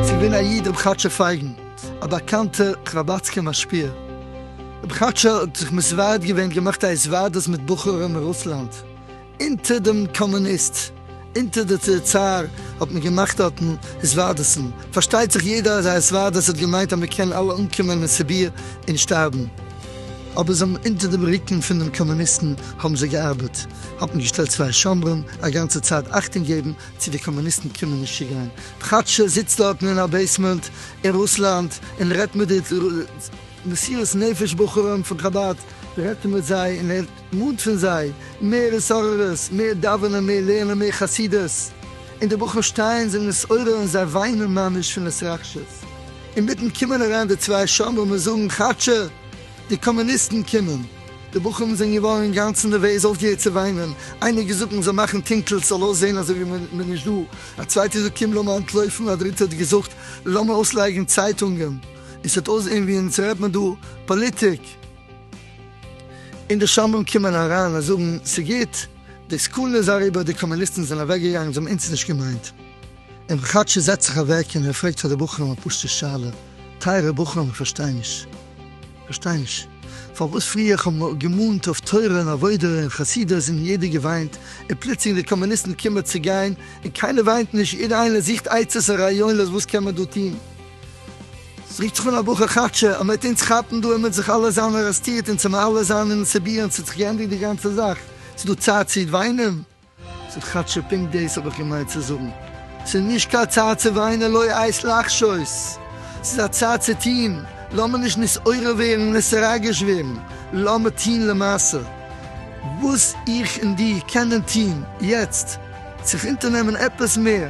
ס'איז געווען א איד רבי כאטשע פייגן, א באקאנטער חבד'סקער משפיע. רבי כאטשע האט זיך מסווייד געווען, געמאכט א התוועדות מיט בחורים אין רוסלאנד, אונטער דעם קאמוניסט, אונטער די צאר האט מען געמאכט דארטן היזווארדעסן, פארשטייט זיך יעדער אז א היזווארדעס האט געמיינט אז מען קען אלע אנקומען אין סיביר און שטארבן, אבער זיי האבן אונטער דעם רוקן פון דעם קאמוניסטן האבן זיי געארבעט, האט מען געשטעלט צוויי שומרים א גאנצע צייט אכטונג געבן צו די קאמוניסטן קומען נישט צו גיין, כאטש ער זיצט דארטן אין א בעיסמענט אין רוסלאנד און רעדט מיט די מסירות נפש בחורים פון חבד, רעדט ער מיט זיי און ער. מאד פון זיי, מער התעוררות, מער דאווענען, מער לערנען, מער חסידות, און די בחורים שטייען זיי נתעורר און זיי וויינען ממש פון התרגשות, אינמיטן קומען אריין די צוויי שומרים און זאגן כאטשע די קאמוניסטן קומען, די בחורים זענען געווארן אינגאנצן נערוועז אויפגעהערט צו וויינען, איינער האט געזאגט מען זאל מאכן טונקל ס'זאל אויסזען אזוי ווי מען איז נישט דא, א צווייטער האט געזאגט קום לאמיר אנטלויפן, א דריטער האט געזאגט לאמיר אויסלייגן צייטונגען, און ס'העט אויסזען ווי אונז רעדט מען דא פאליטיק. און די שומרים קומען אריין און זאגן, ס'גוט, די סכנה איז אריבער, די קאמוניסטן זענען אוועקגעגאנגען, זיי האבן אונז נישט געמיינט. און כאטשיג זעצט זיך אוועק און ער פרעגט פאר די בחורים א פשוט'ע שאלה, טייערע בחורים איך פארשטיי נישט, פארשטיי נישט, פארוואס פריער איך האב געמאנט אויף תורה און עבודה און חסידות און יעדער געוויינט, און פלוצלינג די קאמוניסטן קומען צו גיין און קיינער וויינט נישט, יעדער איינער זוכט עצות און רעיונות וואס קען מען דא טון. ס'רוקט זיך אן א בחור כאטשע ער מעט אונז כאפן דא ער מעט זיך אלע זיין ארעסטירט אונז האמיר אלע זיין אינעם סיביר אונז האט זיך געענדיגט די גאנצע זאך ס'איז דא צייט צי וויינען? ס'איז כאטשע פונקט דעיס האב איך געמיינט צי זאגן ס'איז נישט קיין צייט צי וויינען לא עת לחשות ס'איז א צייט צי טוהן לאמיר נישט נתעורר ווערן און נתרגש ווערן לאמיר טוהן למעשה וואס איך און די קענען טוהן יעצט זיך אונטערנעמען עפעס מער.